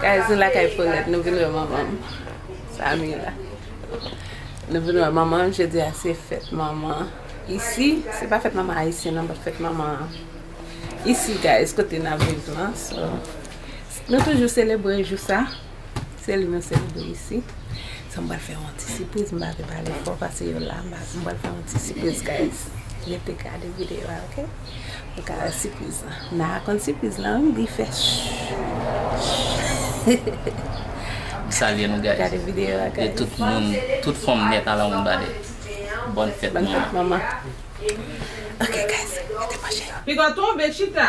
Guys nou lakay Paulette nou vin wè manman m Samy la Nou vin wè manman m jodi a se fèt manman isi se pa fèt manman ayisyen nan but fèt manman isi guys kote nap viv lan so nou toujou selebre jou sa. Se li nou selebre isi. Sa m pral fè yon ti sipriz. M pa vle pale fò pase yo la. M pral fè yon ti sipriz guys. Rete gade videyo a ok. Pou w ka wè sipriz lan. M nan rakonn sipriz lan wi. Li fè shhhh. M salye nou guys. Gade videyo a guys. E tout moun, tout fanm nèt a lan moun bade. Bòn fèt manman. Bòn fèt manman. Ok guys. Rete branche. Piga tonbe chita.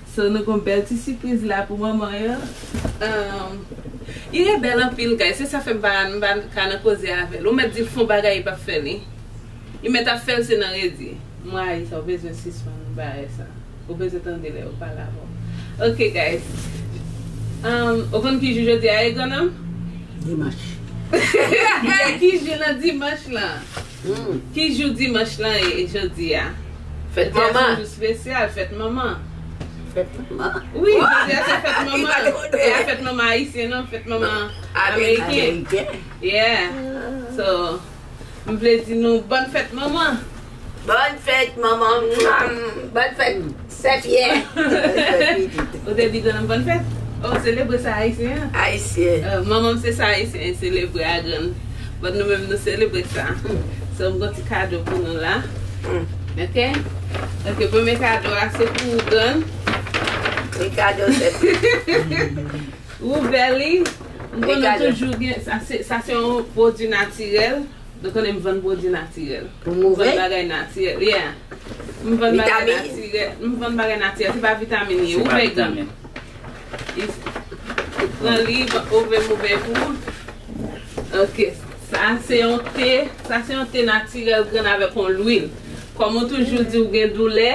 So nou gon bèl ti sipriz la pou manman yo Ire bèl anpil guys se sa fè m pa ka nan koze avèl ou mèt dil fon bagay li pap fè li li mèt ap fèl se nan redi m rayi sa ou bezwen sispann bagay sa ou bezwen tande lè yo pale avè w ok guys ou konn ki jou jodi a ye gran nonm? Dimanch. Ki jou nan dimanch lan? Ki jou dimanch lan ye jodi a? Fèt manman. Jodi a se yon jou spesyal, fèt manman. Fèt manman? Wi, jodi a se fèt manman. Ki pati konte a? Se pa fèt manman ayisyen non, fèt manman ameriken. Ameriken. Yeah. So, m vle di nou bòn fèt manman. Bòn fèt manman. Mwah! Bòn fèt. Sè Pyè! Ou te di grann bòn fèt? Oh selebre sa ayisyen an. Ayisyen. Manmanm se sa ayisyen selebre a grann bòn nou menm nou selebre sa. So m gon ti kado pou nou la ok ok premye kado a se pou ou grann. Li kado sè Pyè. Ouvè li. M konnen toujou gen sa se yon pwodwi natirèl. Nou konnen m vann pwodui natirèl. Ou mouri? M vann bagay natirèl. Yeah. M vann bagay natirèl. Vitamin? M vann bagay natirèl. Se pa vitamin li ye. Ou vle grann. Se pa vitamin. Pran li, ouvè mouvè pou ou. Ok. Sa a se yon te. Sa se yon te natirèl grann avèk yon lwil. Kòm ou toujou di ou gen doulè,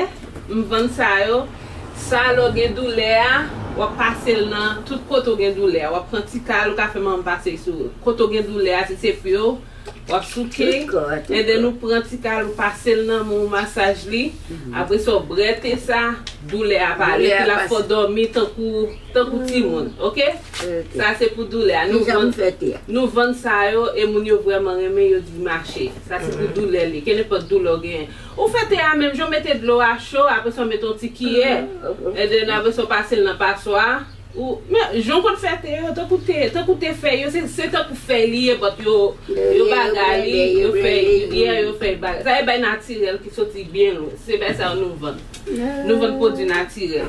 m vann sa yo. Sa lè w gen doulè a, w ap pase l nan tout kote w gen doulè a. W ap pran ti kal, ou ka fè manman pase l sou kote w gen doulè a, si se pye w, w ap souke, and then ou pran ti kal ou pase l nan men w masaj li, apre sa w brete sa, doulè a ap ale, epi l ap fè w dòmi tankou timoun, ok? Sa se pou doulè a. Nou vann sa yo e moun yo vrèman renmen, yo di mache. Sa se pou doulè li, kenenpòt doulè w genyen. Ou fè te a menm jan w mete dlo a cho apre sa w mete yon ti kiyè and then apre sa w pase l nan paswa ou men jan w konn fè te yo tankou te tankou te fèy yo se se tankou fèy li ye but yo yo bagay li yo fè yeah yo fè bagay sa e bay natirèl ki soti byen lwen se bay sa yo nou vann nou vann pwodui natirèl.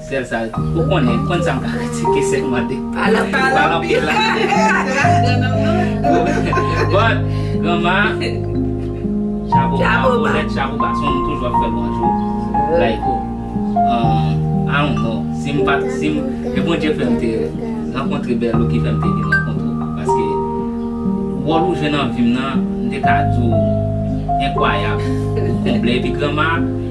Sel sa ou konnen, konn sa m ka kritike selman de pa la pa la anpil la But granma Chapo ba pou let chapo ba son m toujou ap fè bonjou Like ou I don't know si m pat si m ke Bondye fè m te rankontre Berlou ki fè m te vin rankontre ou paske wòl ou jwe nan vi m nan m te ka di w enkwayab ou konble epi granma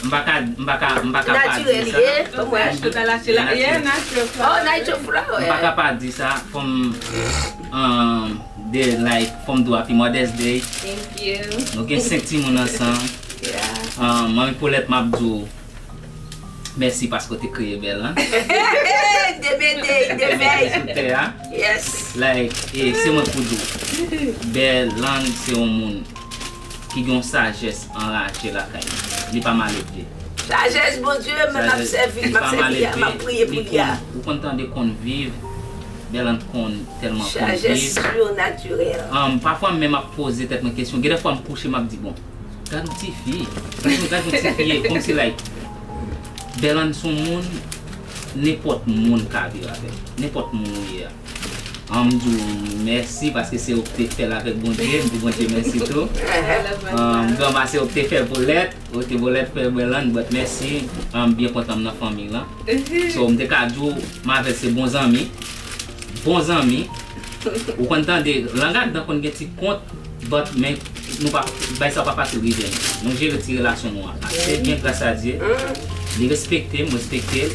M pa ka, m pa ka, m pa ka pa di sa. M pa ka pa di sa fò m Dare like fò m do happy mother's day Nou gen 5 timoun ansanm Manmi Paulette m ap di w Mèsi paske w te kreye Belle lan Like e se mwen k pou di w Belle lan se yon moun ki gen yon sajès anraje lakay li. Li pa maledve. Sajès Bondye, mwen map sèvi, map sèvi a, map priye pou li a. Ou konn tande konn viv, Berlande konn tèlman konn viv. Sajès surnaturel. Humm pafwa menm ap poze tèt mwen kesyon, gen de fwa m kouche map di bon, gad yon ti fi, gad yon ti fi e, konm si like Berlande son moun nenpòt moun ka viv avèl, nenpòt moun ou ye a. Anm diw mèsi paske se ou ki te fèl avèk Bondye, m di Bondye mèsi tou. Anm grandma se ou ki te fè bolèt, ou di bolèt fè bèl ann but mèsi, anm byen kontan m nan fanmiy lan. So m te ka diw m avèl se bon zanmi, bon zanmi, ou konn tande lan gadan konn gen ti kont but men nou pa bay sa pa fasil rive nou. Nou jere ti relasyon nou an ase byen gras a Dye, li respekte m, m respektel.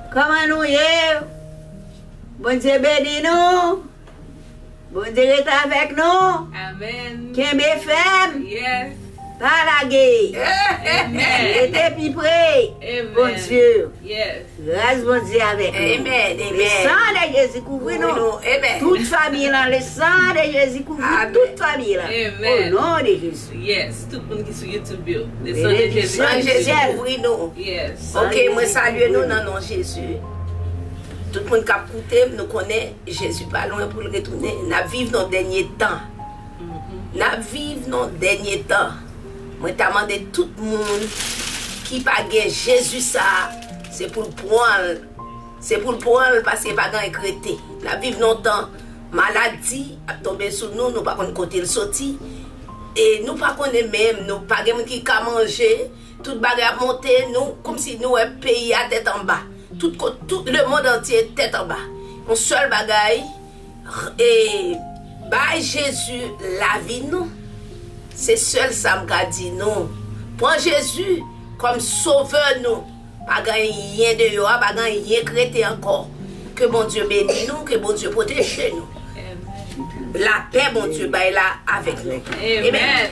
Koman nou ye? Bondye beni nou! Bondye ret avèk nou! Amen! Kenbe fèm! Yes! Pa lage! Amen! Rete pi pre! Amen! Bondye! Yes! Gras Bondye avèk nou! Amen! Amen! Le san de Jezi kouvri nou! Kouvri nou! Amen! Tout fanmiy lan le san de Jezi kouvri tout fanmiy lan! Amen! O non de Jezi! Yes tout moun ki sou YouTube yo le san de jezi kouvri nou. San jezi kouvri nou. Yes. Ok mwen salye nou nan non jezi. Tout moun kap koutem nou konnen jezi pa lwen poul retounen nap viv nan dènye tan. Nap viv nan dènye tan. Mwen ta mande tout moun ki pa gen jezi sa se poul pranl se poul pranl paske pa gen anyen k rete nap viv nan tan Maladi ap tonbe sou nou, nou pa konn kote l soti e nou pa konnen menm, nou pa gen moun ki ka manje, tout bagay ap monte, nou kòmsi nou wè peyi a tèt anba, tout kot, tout lemond antye tèt anba, yon sèl bagay e bay Jezi lavi nou, se sèl sa m ka di nou, pran Jezi kòm sovè nou. Pa gen anyen deyò a pa gen anyen k rete ankò ke Bondye beni nou ke Bondye pwoteje nou lapè Bondye bay la avèk nou amen.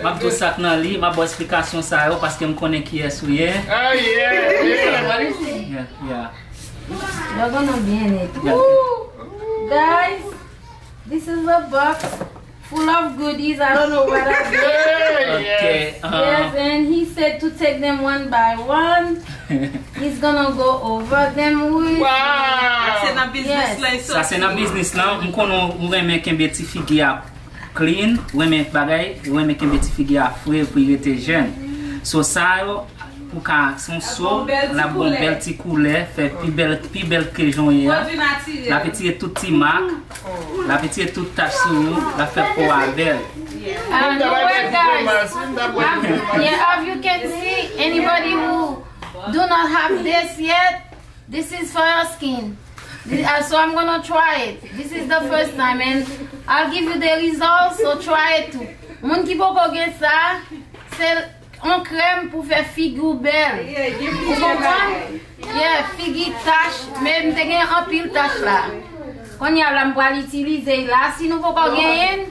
Map di w sak nan li, map ba w esplikasyon sa yo paske m konnen kiyès ou ye. Sa se nan biznis lan, m konnen ou renmen kenbe ti figi a Clean, renmen bagay, renmen kenbe ti figi a fre pou y rete jèn. So sa yo pou ka se yon so lap ba w bèl ti koulè, fè pi bèl pi bèl ke jan w ye a. Lap etire tout ti mak, lap etire tout tach sou ou, lap fè po a bèl. Anyway guys, yeah av you can see anybody who do not have this yet. This is for your skin so I'm gonna try it this is the first time and I'll give you the result so try it too moun ki poko gen sa se yon krèm pou fè figi w bèl ou konprann yeah figi tach men m te gen anpil tach la kounya la m pral itilize l la si nou poko genyen l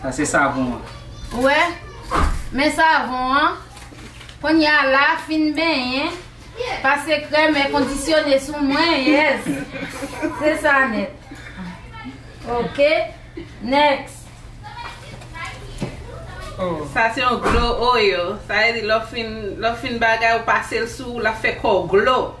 Sa se savon an. Ou wè? Men savon an. Konnya la, fin benyen, pase krèm è kondisyone sou mwen, yes! Se sa nèt. Ok. Next. Sa se yon glow oil. Sa vle di lè w fin bagay ou pase l sou ou, l ap fè kò w glow.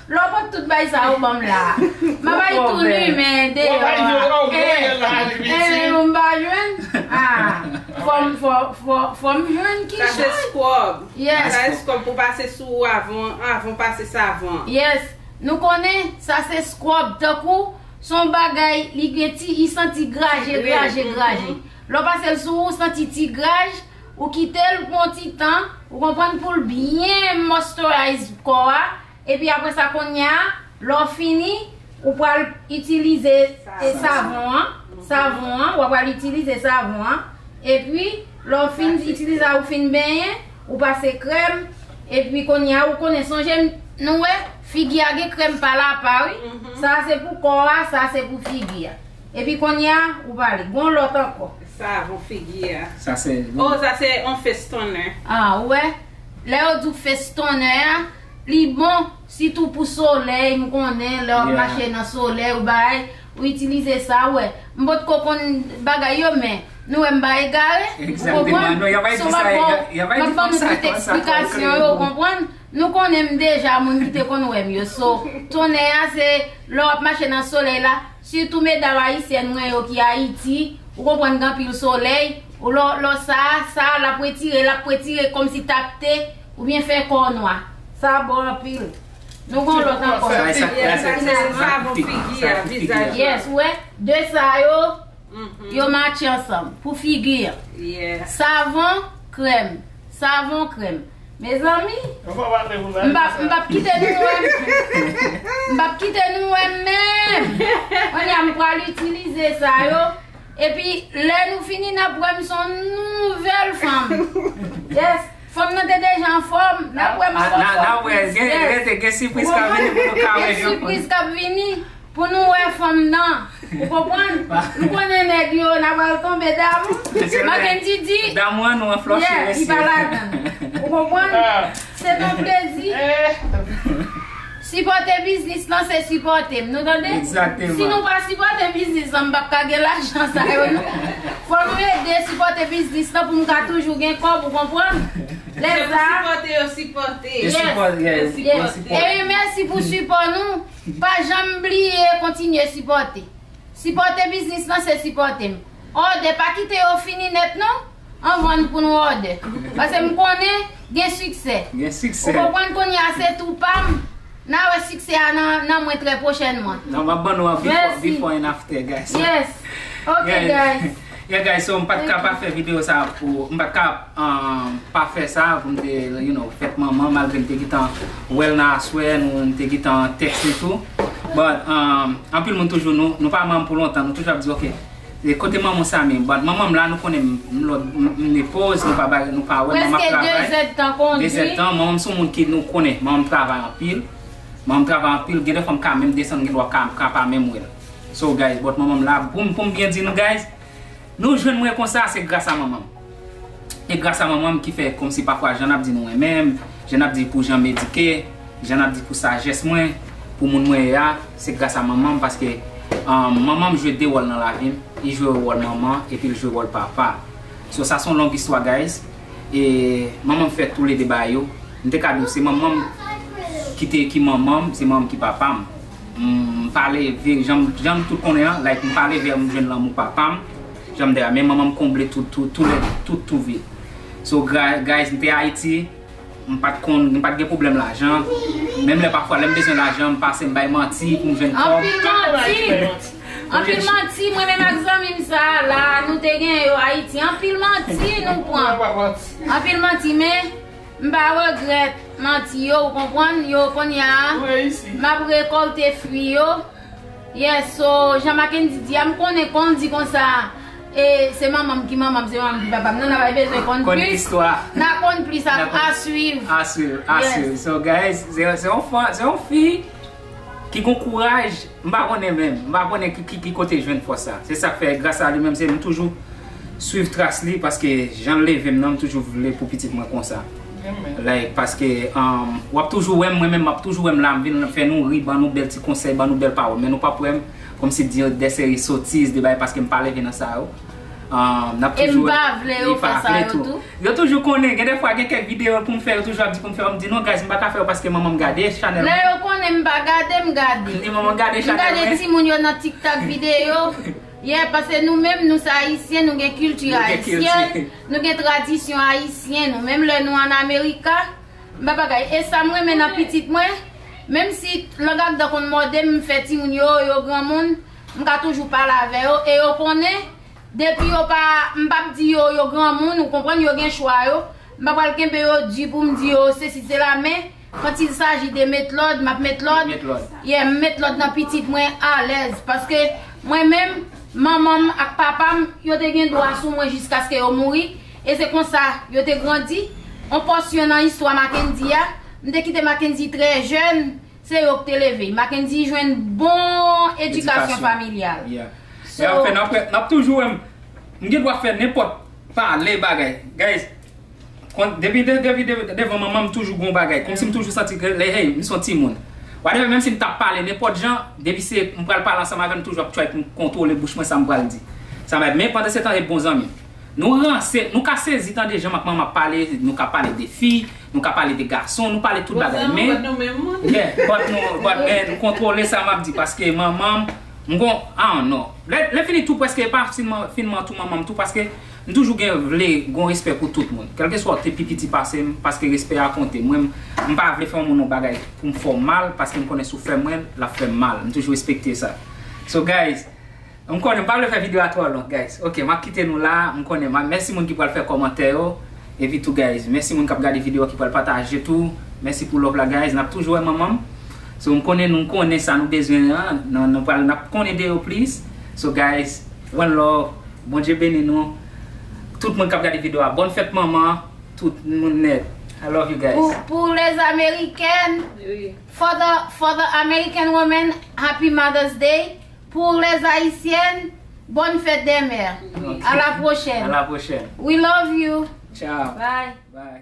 Lè w pot tout bay sa yo banm la. Ma bay tou nu men deyò a. Wap bay deyò vre yè la Habibi. Eh eh m pa jwenn. Ah fòm jwenn ki jan. Pase scrub. Yes. Pase scrub pou pase sou ou avan ou pase savon an. Yes. Nou konnen sa se scrub tankou son bagay li gen ti li santi graje graje graje. Lè w pase l sou ou santi ti graj. Ou kitel pou yon ti tan, ou konprann poul byen moisturize kò a, epi aprè sa konnya lè w fini ou pral itilize savon an, savon an, wap pral itilize savon an, epi lè w fin itilize a ou fin benyen, ou pase krèm, epi konnya ou konnen sonje nou wè figi a gen krèm pal apa wi, sa se pou kò a, sa se pou figi a. Epi konnya ou pale. Gon lot anko. Sa bon figi a. Sa se. Oh sa se on face toner. Ah ou wè. Lè yo diw face toner a li bon sitou pou soley m konnen lè wap mache nan soley ou bay ou itilize sa ou wè. M potko konn bagay yo men nou wè m pa egare ou konprann. So map baw map banou tout eksplikasyon yo ou konprann. Nou konnen m deja moun ki te konn wè m yo so toner a se lè wap mache nan soley la. Sitou medam ayisyèn mwen yo ki Ayiti, ou konprann gen anpil solèy, ou lò lò sa, sa a lap wetire, lap wetire kòmsi tapte oubyen fè kò w nwa. Sa a bon anpil. Nou gen yon lòt ankò. Sa sa ki la se se sa pou figi a, vizaj la. Yes ou wè, 2 sa yo, yo matche ansanm pou figi an. Savon, krèm, savon, krèm. Mezanmi. Nou pa pale pou sa. M pap m pap kite nou wèm. M pap kite nou wèm menm. Konya m pral itilize sa yo. Epi lè nou fini n ap wèm son nouvèl fanm. Yes. Fanm nan te deja anfòm. N ap wèm son fòm. N ap wè. Gen gen gen sipriz k ap vini pou nou ka wè. Gen sipriz k ap vini. Pou nou wè fanm nan. Ou konprann? Nou konnen nèg yo na pral tonbe damou. Mackendy di. Damou an nou an flòche mesye. Yeah, li pa ladann. Ou konprann? Se ton plezi. Sipòte biznis lan se sipòte m. Nou tande? Exactement. Si nou pa sipòte biznis lan m pap ka gen lajan sa yo non. Fò nou ede sipòte biznis lan pou m ka toujou gen kòb ou konprann? Lè sa. Se pou sipòte yo sipòte. Yes. Sipòte. Epi mèsi pou sipò nou. Pa janm bliye kontinye sipòte. Sipòte biznis lan se sipòte m. Òdè pa kite yo fini nèt non anvan n pou nou òdè. Pase m konnen gen siksè. Ou konprann kounye a se tou pa m. N a wè siksè a nan mwen trè pwochènman. Mèsi. Yes. Ok guys. Yeah guys so m pat ka pa fè video sa pou m pat ka pa fè sa pou m te you know fèt manman malgre m te gentan wèl nan aswè nou m te gentan text li tou but anpil moun toujou nou pa manman pou lontan nou toujou ap di ok kote manman w Samy but manman m la nou konnen m ne poz nou pa bay nou pa wè manman ap travay preske 2 zèd tan kondi 2 zèd tan manman m son moun ki nou konnen manman m travay anpil manman m travay anpil gen de fwa m ka menm desann gen dwa ka pa menm wèl. So guys but manmanm la poum poum byen di nou guys nou jwenn mwen konsa se gras a manmanm e gras a manmanm ki fè komsi pafwa jan nap di nou renmenm jan nap di pou janm edike jan nap di pou sajès mwen pou moun mwen ye a se gras a manmanm paske manmanm jwe de wòl nan lavim li jwe wòl manman epil jwe wòl papa so sa son long istwa guys e manmanm fè tou le 2 bagay yo m te ka diw se manmanm ki te ki manmanm se manmanm ki papam. M pale veri janm tout konnen an like m pale veri m jwenn lanmou papam janm de a men manmanm konble tout tou tou lède tout tou vid so guys m te ayiti m pat konn m pat gen pwoblèm lajan menm lè pafwa lèm bezwen lajan m pase m bay manti pou m jwenn kòb anpil manti anpil manti mwen menm ak zanmim sa la nou te gen yo ayiti anpil manti nou pran anpil manti men. M pa regrèt manti yo ou konprann yo konnya map rekolte fwi yo yes so jan Mackendy di a m konnen konn di konsa e se manmanm ki manmanm se manmanm ki papam nan nan pa bezwen konn plis nan konn plis a swiv a swiv a swiv so guys se yon fi Ki gon kouraj, m pa konnen menm, m pa konnen ki kote jwenn fòs sa. Se sak fè gras a li menm se m toujou swiv tras li paske jan l leve m nan m toujou vle pou pitit mwen konsa. Like paske w ap toujou wè m mwen menm m ap toujou wè m la m vin fè nou ri ban nou bèl ti konsèy ban nou bèl pawòl men nou p ap wè m kòmsi di yo de seri sotiz de bagay paske m pa leve nan sa yo. E m pa vle yo fè sa yo tou. Yo toujou konnen, gen de fwa gen kèk videyo pou m fè yo toujou ap di pou m fè yo m di non guys m pa ka fè yo paske manman m gade chanèl mwen. Lè yo konnen m pa gade m gade. M di manman gade chanèl mwen. M gade timoun yo nan tiktak videyo. Yeah paske nou menm nou se ayisyen nou gen kilti ayisyen nou gen tradisyon ayisyen nou menm lè nou an amerika m pa bagay e sa m renmen nan pitit mwen menm si lang ak dan konn mòde m m fè timoun yo yo granmoun M ka toujou pale avè yo e yo konnen depi yo pa, m pap di yo yo granmoun ou konprann, yo gen chwa yo, m pa pral kenbe yo di pou m di yo sesi sela men quand il s'agit de met lòd map met lòd, yeah m met lòd nan pitit mwen alèz paske mwen menm manman m ak papa m yo te gen dwa sou mwen jiskaske yo mouri e se konsa yo te grandi, on pòsyon nan istwa Mackendy a, m te kite Mackendy trè jèn. Se yo k te leve. Mackendy jwenn bon edikasyon familyal. So. Map toujou wè m gen dwa fè nenpòt pale bagay. Guys, depi devan manman m toujou gon bagay. Kòmsi m toujou santi ke lè hey m son timoun. Whatever menmsi m tap pale nenpòt jan, depi se m pral pale ansanm avè l m toujou ap try pou m kontwole bouch mwen sa m pral di. Men pandansetan e bon zanmi. Nou ranse, nou ka sezi tande jan Makmanman ap pale, nou ka pale de fi, nou ka pale de gason, nou pale tout bagay men, Bon sa nou bat nou menm moun. yeah, bat nou, bat men nou kontwole sa map di paske manmanm m gon, I don't know. Lè, lè fini tou prèske epa sin man, fin man tou manmanm tou paske m toujou gen vle gon respè pou tout moun. Kèlkeswa ou te pi piti pasem paske respè a konte. Mwen m, m pa vle fè yon moun yon bagay poum fè w mal paske m konnen si w fè mwen l, lap fè m mal. M toujou respekte sa. So guys. M konnen m pa vle fè video a twò long guys ok map kite nou la m konnen ma mèsi moun ki pral fè kòmantè yo epi tou guys mèsi moun kap gade video a ki pral pataje tou mèsi pou love la guys nap toujou wè manmanm so m konnen nou konnen sa nou bezwen an nan nou pral nap konnen de yo plis so guys one love Bondye beni nou tout moun kap gade video a bòn fèt manman tout moun nèt I love you guys. Pou les américaines for the for the American women happy mother's day. Pour les haïtiennes bonne fête des mères à la prochaine we love you bye.